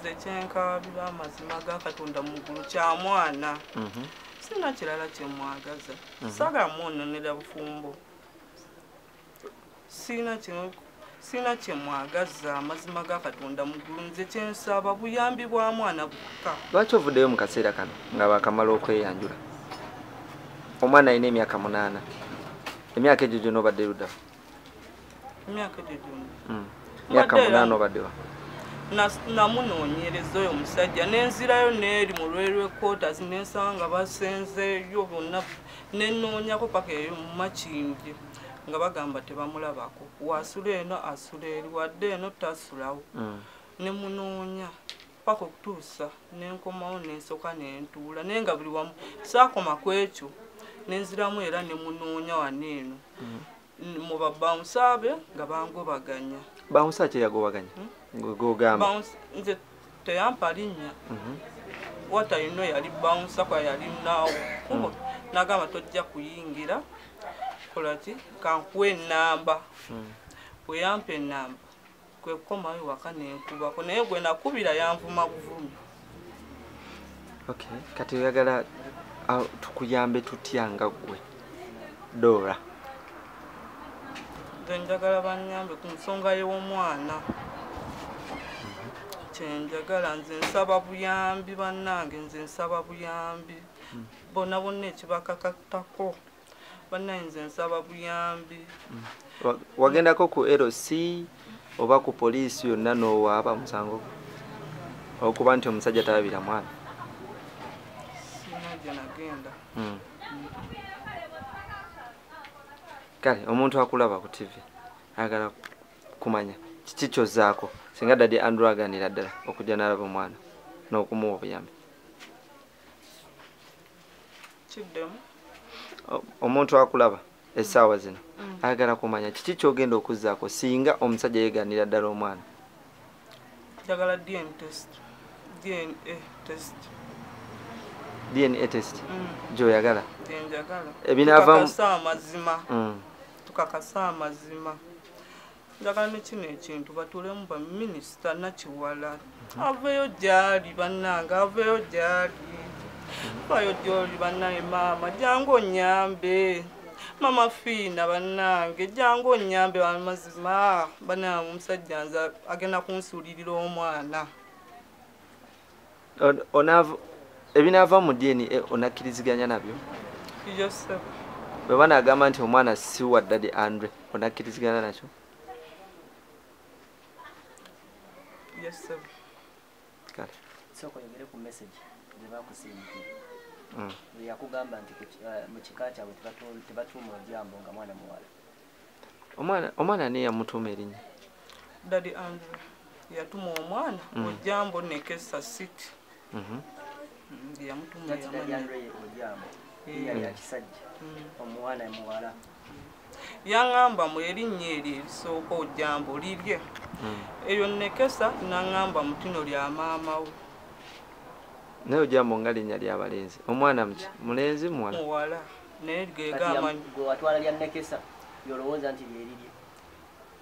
nze kyenkaabira amazima ga katonda mu ggulu kya mwana mhm. sina kirala kyemwagaza mhm. saga mwononera bufumbo sina kino sina kyemwagaza amazima ga katonda mu ggulu nze kyensaba buyambi bwa mwana bukka lwaki ovuddeyo mu kaseera kano nga bakamala okweyanjula omwana alina emyaka munaana emyaka egyo gyona obadde luddamu myaka hmm. munana obadewa namunoonyereza oyo omusajja nenzirayo neeri mu lwerwe quarters nensanga basenzeyo bonna nenoonyako paka eyo mumakindi nga bagamba tebamulabako wasula eno asula eri wadde eno tasulawo hmm. nemunoonya paka okutuusa nenkomawo nensoka nentuula naye nga buli wamu saakoma ku ekyo nenziramu era nemunoonya wano eno mm. mu babawunsaabe nga bangobaganya bawunsa kyeyagobaganya hmm? ngogamba nze teyampa linnya mhm. watayino yali bawunsa kwa yali naawo kubo mm. nagamba tojja kuyingira kolaki kankuwa enamba mm. weyampa enamba kwe kukomawo ewaka nenkubako naye gwe nakubira yanvuma buvumi okay kati oyagala tukuyambe tutya nga ggwe dora nze njagala banyambe ku nsonga y'omwana kyenjagala nze nsaba buyambi bannange nze nsaba buyambi bona bonna ekibakakatako banaye nze nsaba buyambi mm. wagendako ku lc oba ku poliisi yonna nowaaba musango okuba nti omusajja talabira mwana mm. kale omuntu akulaba ku tv ayagala kumanya kiki kyozaako singa dadi andrew aganira ddala okujja nalaba omwana n'okumuwa obuyambi kiddemu omuntu akulaba essaawa zino mm. ayagala kumanya kiki kyogenda okuzzaako singa omusajja yeganira ddala omwana njagala dna test dna test dna test mm. gyoyagala ebinavamukakasa amazima mm. tukakasa amazima njagala ne kino ekintu batuulemu baminisita nakiwala aveeyo gyali bannange aveeyo gyali vayo gyoli bannange maama jangu onyambe mama fiina bannange jangu onyambe amazima bannange omusajja nze agenda kunsuulirira omwana ebinaava mu dna onakkiriziganya nabyo bwe banaagamba nti omwana si wa ddadi andre onakkirizigana nakyo mm. yakugamba nti eh, mu kika kyabwe tebatuuma ojambo nga mwana muwala omwana omwana ne yamutuma erinya dadi andrew yatuma omwana mm. ojambo nekesa city mm -hmm. mm, yamutuma omwana muwala yaŋamba mu erinnya eryo erisooka ojambo lirye mm. eyo nekesa naŋamba mutino lya maama we naye ojambo nga linnya lyabalenzi omwana muki mulenzi muwala naye gege amanyi gwe watwala lya nekesa yolowooza nti lyeriri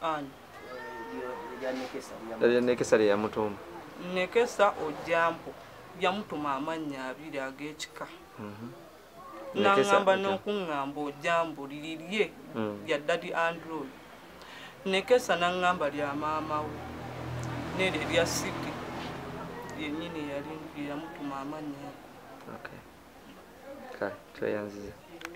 ani lya nekesa lyeyamutuma nekesa ojambo yamutuma amannya abiri ag'ekika mhm. nangamba n'okuŋŋamba ojambo liri lye lya mm. dadi android nekesa nangamba lya maama wo nere lya siki yenyini yali yamutuma amannya okay. okay. tweyanziza